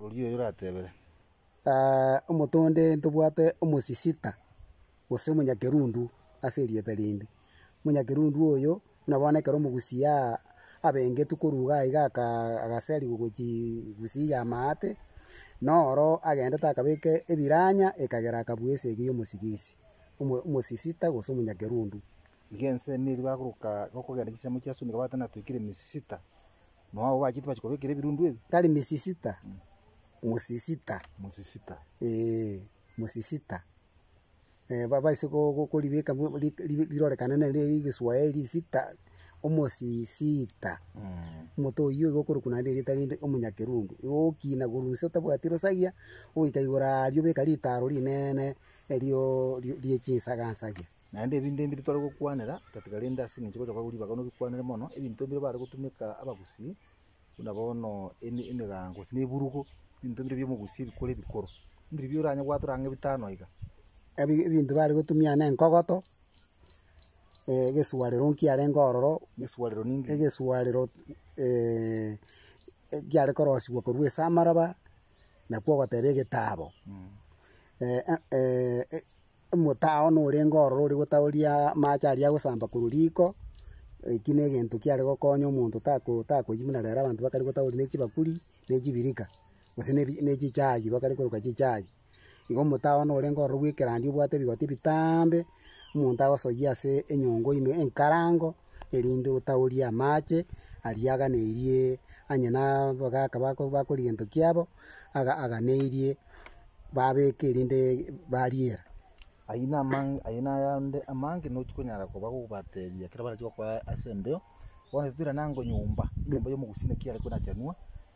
Oria oyo oratebere. Omonto onde ntobwate omosisita, gose omonyakerundu ase erieta rinde. Omonyakerundu oyo buna bono ekero omogusia abengetwe korwa iga aiga agasariwa gochia egusia ya amaate, noro agendete akabeka ebiranya ekagera akabua esegi ya omosigisi, omosisita gose omonyakerundu. Iga ense neri bagoroka gokogenda chinsemo chia Suni gabwate natwekire misisita, na ao bachia tibachia kobekera ebirundu ebi. Tari misisita, mosisita. Mosisita. Ee, mosisita. Eh, ba- baise ko- ko- koribeka mo- mo- ri- ri- rirorekane nere egeswaeri sita, omosisita. Omonto oyio igo okorokwa naende erieta rinde omonyakerundu. Igo ogokina korwa inse otabwati rosagia, ogoika igoro aria obeka ritaro rinene. erio rie chinsagansagia. Naende ebinto ebi tore gokwanera tatiga rende ase engencho gocha kwabo ribaga nobikwanere mono, ebinto bire bare gotumeka abagusii, buna bono eme emegango gose na eburugo, ebinto bire biomogusii ebikoro ebikoro, mbiribio oranye gwatora ang'e bitano iga. Ebi ebinto bare gotumia na enkogoto, egesuarero nkiarenge ororo, Egesuarero ninki? egesuarero ekiare korosigwa korwa ase amaraba. nakwo ogoteba egetaabo, eh, eh, eh, eh, omotao norenge ororo oria gotaoria amache aria agosamba korwa riko, eki na egento kiare gokonya omonto tako takoyia buna rero abanto bakare gotaoria ne chibakuri, ne chibirika, gose ne ebi ne chichaagi bakare koroka chichaagi. Igo omotaaba one orenge ororo bw'ekerandia obwate ebigoti bitaambe, omonto agosoyie ase enyongo ime enkarango, erinde otaoorie amache aria aganeirie onye na abagaaka bako- bakorigia egento kiabo, aga aganeirie babeeke erinde bariera. Ayio na amang- ayio na ayande amange nochi konyara koba gogobateebia ekero barache gokora ase embeo, bono titwirana ngonyomba, enyomba y'omogusii naki are kona chanwa.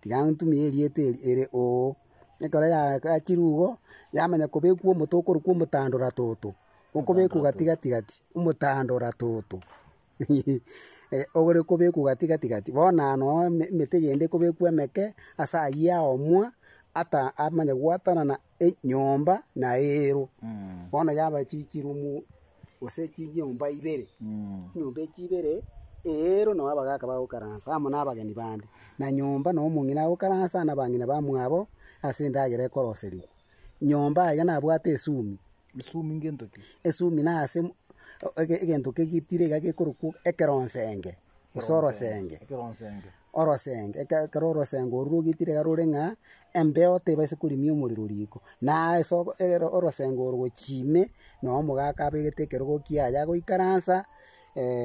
Tiga ntumie erieta eri ere Oo. Ekero yagachire igo, yamanya kobekwa omote okorokwa omotandora toto, okobekwa gati gati gati, omotandora toto, ore kobekwa gati gati gati. Bono aya noo eme- emete eyende ekobekwa emeke ase ayio yaomwa, ata amanye gwatanana. Enyomba naeirwe bono yaba chichirumu gose chinyomba ibere, chinyomba echi ibere eirwe nabo abagaka bagokaransa amo nabageni bande, na nyomba na omong'ina agokaransa nabang'ina bamwabo ase endagera ekoroserigwa. Nyomba aiga nabwate esumi. Esumi ngento ki? Esumi nase m- o- ege- egento kegitire iga gekorokwa ekeronsenge, gose orosenge. Ekeronsenge. Orosenge, eke- ekero orosenge orwo rogitire iga rore ng'a embeo tebaisa korimia omorero riko. Na ase ogo ero orosenge oro gochia ime, noo omogaka abegete ekerogo kiaye agoikaransa,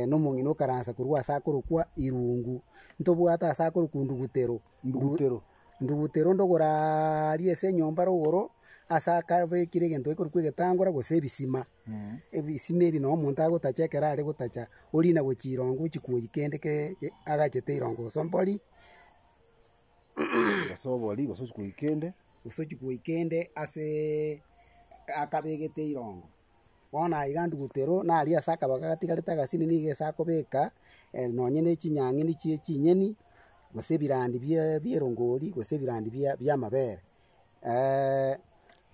na omong'ina okaransa korwa ase akorokwa irungu. Ntobwate ase akorokwa ndugutero. Ndugutero. Ndugutera onde ogoraria ase enyomba rogoro ase akabekire egento gekorokwa egetangora gose ebisima. Ebisima ebi nabo omonto agotacha ekero are gotacha, orina gochia irongo ochia koyia kende ke- ke agachete irongo gose ombori, gose obori gose ochia koyia kende. gose ochia koyia kende aseee akabegete irongo. Bono aiga Andutero naria ase akabaga gatigarete agasini nigo ase akobeka nonye ne chinyang'ini chie chinyeni, gose ebirandi bierongori, gose ebirandi biamabere.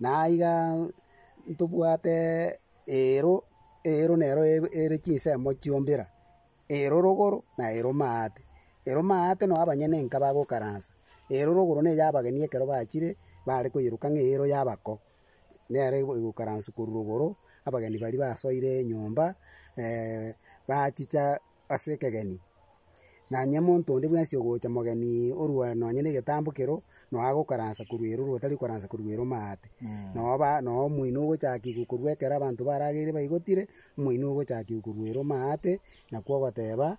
naiga ntobwate eero, eero nero ere chinsemo chiombera. Erorogoro na eromaate. Eromaate no abanyene enka bagokaransa. Erorogoro ne y'abageni ekero bachire bare koyeroka ng'a eero y'abako. Nere egokaranswa korwa rogoro, abageni baria basoire enyomba bachicha ase ekegeni. Nanye monto onde bwensi ogocha mogeni orwa nonye negetambo kero, noa gokaransa korwa ere ore otari kokaransa korwa ere omaate. Noa ba- noa omoino ogochakigwa korwa ekero abanto barageire baigotire, omoino ogochakigwa korwa ere omaate, nakwo ogoteba.